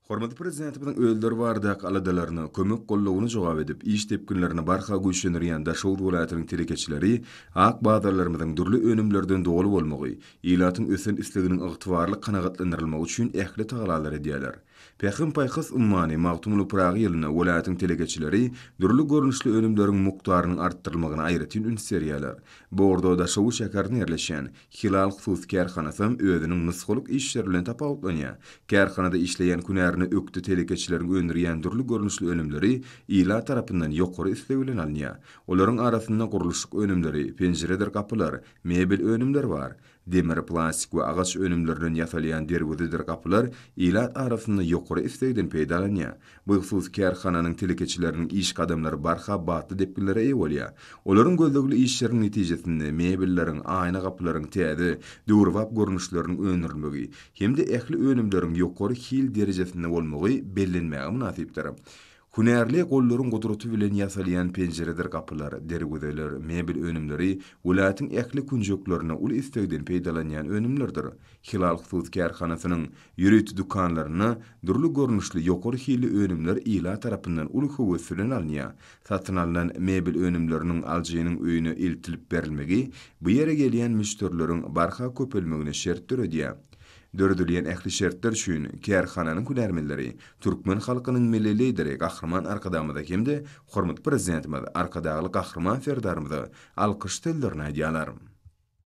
Hormatly Prezidentimiziň özleri baradaky aladalaryna, kömek-goldawyna jogap edip, iş depginlerini barha güýçlendirýän Daşoguz welaýatynyň telekeçileri ak bazarlarymyzyň dürli önümlerden doly bolmagy, ilatyň ösen isleginiň ygtybarly kanagatlandyrylmagy üçin ähli tagalalar edýärler. Pähim-paýhas ummany Magtymguly Pyragy ýylynda welaýatyň telekeçileri dürli görnüşli önümleriň mukdarynyň artdyrylmagyna aýratyn üns berýärler. Bu ugurda Daşoguz şäherinde ýerleşýän Hilal hususy kärhanasam özüniň nusgalyk işleri bilen tapawutlanýar. Kärhanada işleýän hünärine ökde telekeçileriň öndürýän dürli görnüşli önümleri ilat tarapyndan ýokary isleg bilen alynýar. Olaryň arasynda gurluşyk önümleri, penjiredir gapylar, mebel önümleri bar. Demir, plastik we agaç önümlerinden ýasalýan derwezedir gapylar ilat arasynda ýokary islegden peýdalanýar. Bu hususy kärhananyň telekeçileriniň iş gadamlary barha batly depginlere eýe bolýar. Olaryň gözlegli işleriniň netijesinde mebelleriň, aýna gapylaryň täze, döwrebap görnüşleriniň öndürilmegi hem-de ähli önümleriň ýokary hil derejesinde bolmagy bellenmäge mynasypdyr. Hünärli gollaryň gudraty bilen ýasalýan penjiredir gapylar, derwezeler, mebel önümleri welaýatyň ähli künjeklerinde uly islegden peýdalanýan önümlerdir. Hilal hususy kärhanasynyň Ýörite dükanlarynda dürli görnüşli ýokary hilli önümler ilat tarapyndan uly höwes bilen alynýar. Satyn alnan mebel önümleriniň alyjynyň öýüne eltilip berilmegi bu ýere gelýän müşderileriň barha köpelmegine şert döredýär. Döredilýän ähli şertler üçin kärhananyň hünärmenleri türkmen halkynyň Milli Lideri Gahryman Arkadagymyza hem-de hormatly Prezidentimiz Arkadagly Gahryman Serdarymyza alkyş sözlerini aýdýarlar.